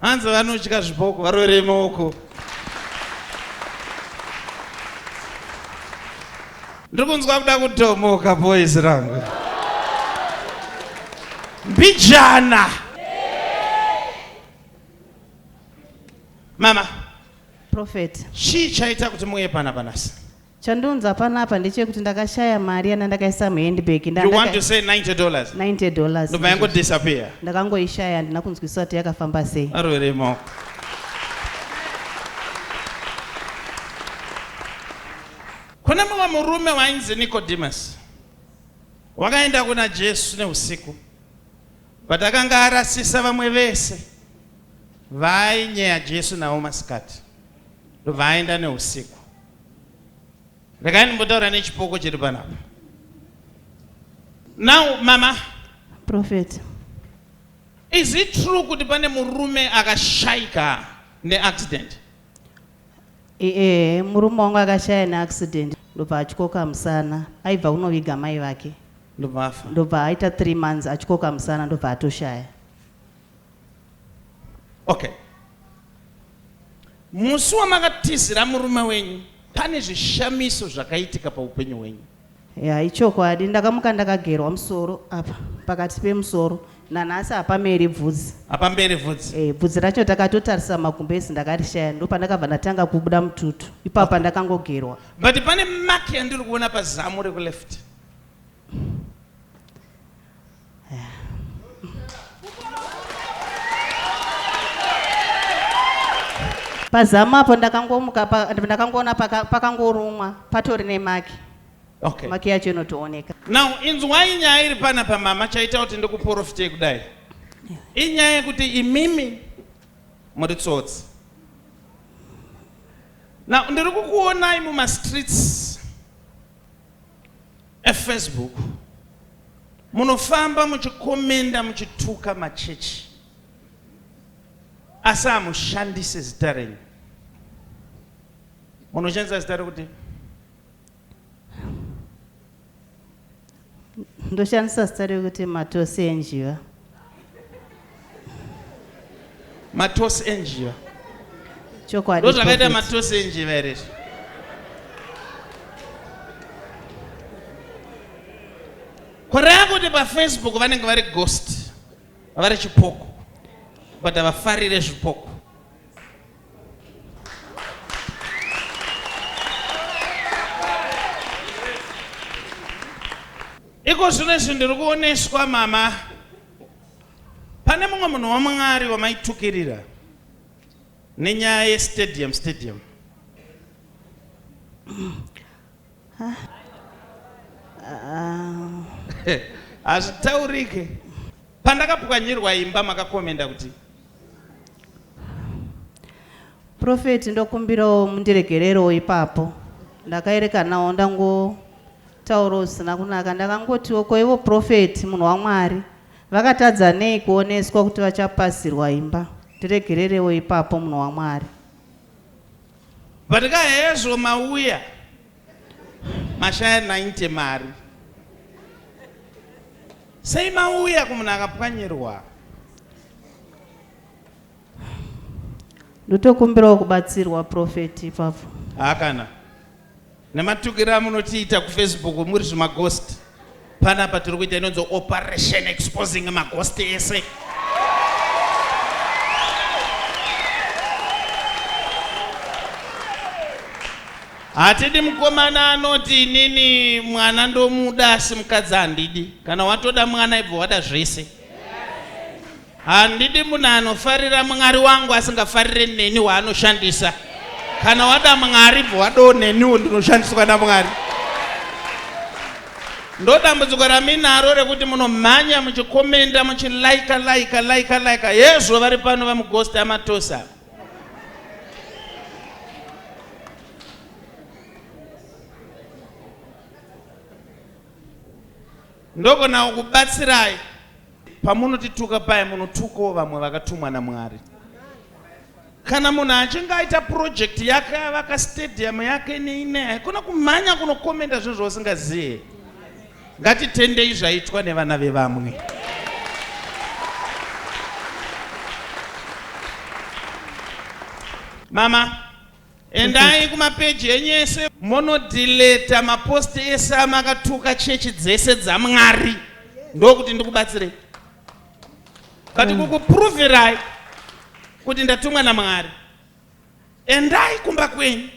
Hanzi vanotya zvipoko varoverei maoko. Ndiri kunzwa kuda kutomoka boys rangu. Mbijana. Mama. Prophet. Chii chaita kuti muuye pana panasi? Chandiunza panapa ndechekuti ndakashaya mari yana ndakaisa muhandbag nda You want to say 90 dollars? 90 dollars. Ndobva yango disappear. Ndakangoishaya handina kunzwisisa kuti yakafamba sei. Arwere maoko. Kune mumwe murume wainzi Nicodemus. Wakaenda kuna Jesu neusiku. But akanga arasisa vamwe vese vainyeya Jesu navo masikati. Ndobva aenda neusiku. Regai ndimbotaura nechipoko chiri panapa. Now mama. Prophet. Is it true kuti pane murume akashaika neaccident? Eh, eh murume wangu akashaya neaccident ndobva atyoka musana aibva kunoviga mai vake ndobva afa ndobva aita three months atyoka musana ndobva atoshaya Okay. Musi wamakatizira murume wenyu pane zvishamiso zvakaitika paupenyu hwenyu. Ya ichokwadi ndakamuka ndakagerwa musoro apa pakati pemusoro nanhasi hapameri bvudzi. Hapamberi bvudzi. Eh, bvudzi racho takatotarisa magumbezi ndakarishaya ndopandakabva ndatanga kubuda mututu. Ipapa ndakangogerwa. But pane mark yandiri kuona pazamu reku left. pazamu apo ndakangomuka pa- ndakangoona paka- pakangorumwa patori nemaki okay maki yacho inotooneka now inzwai nyaya iri pana pamama chaita kuti ndikuporofitei kudai inyaya yekuti imimi muri tsotsi now ndiri kukuonai mumastreets Facebook munofamba muchikomenda muchituka machechi asi hamushandise zita renyu munoshandisa zita rekuti ndoshandisa zita rekuti matosi enjiva matosi enjiva chokwadi ndozvakaita matosi enjiva here izvo kureva kuti pafacebook vanenge vari ghost vari chipoko but havafarire zvipoko iko zvino izvi ndiri kuoneswa mama pane mumwe munhu wamwari wamaitukirira nenyaya yestadium stadium Hazvitaurike. Pandakapwanyirwa imba makakomenda kuti. Prophet ndokumbirawo mundiregererewo ipapo. Ndakaerekanawo ndangotaurawo zvisina kunaka ndakangotiwo ko ivo prophet munhu waMwari vakatadza nei kuoneswa kuti vachapasirwa imba. Ndiregererewo ipapo munhu waMwari. But ka hezvo mauya mashaya 90 mari sei mauya kumunhu akapwanyirwa Ndotokumbirawo kubatsirwa prophet ipapo. haa kana Nematukira amunotiita kufacebook muri zvimaghost panapa tiri kuita inonzi operation exposing maghost ese hatidi mukomana anoti inini mwana ndomuda asi mukadzi handidi kana watoda mwana ibva wada zvese Handidi munhu anofarira Mwari wangu asingafarire neni waanoshandisa. Kana wada Mwari bva wadawo neniwo ndinoshandiswa naMwari. Ndodambudziko raminaro rekuti munomhanya muchikomenda muchilaika laika laika laika hezvo vari pano vamugosti amatosa. Ndogonawo kubatsirai. Pamunotituka paye munotukawo vamwe vakatumwa naMwari. Kana munhu achinge aita project yake yavaka stadium yake neine haikona kumhanya kunokomenda zvinhu zvausingazive. Ngatitendei zvaitwa nevana vevamwe. Mama, Endai kumapeji enyu ese monodileta mapost ese amakatuka chechi dzese dzaMwari ndokuti ndikubatsirei. But mm. kukuproverai kuti ndatumwa naMwari. Endai kumba kwenyu.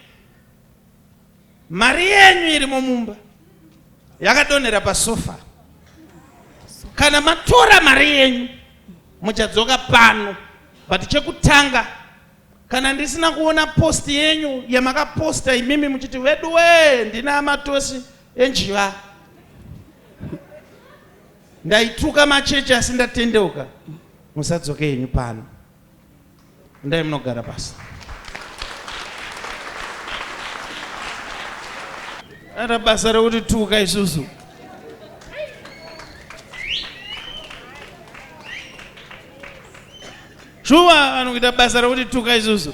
Mari yenyu irimo mumba yakadonhera pasofa. Kana matora mari yenyu muchadzoka pano but chekutanga Kana ndisina kuona post yenyu yamakaposta imimi muchiti veduwee ndine amatosi enjiva. Ndaituka machechi asi ndatendeuka. Musadzoke henyu pano. Ndai munogara pasi. Ara basa rekuti tuka isusu. Shuwa vanhu kuita basa rekuti tuka isusu.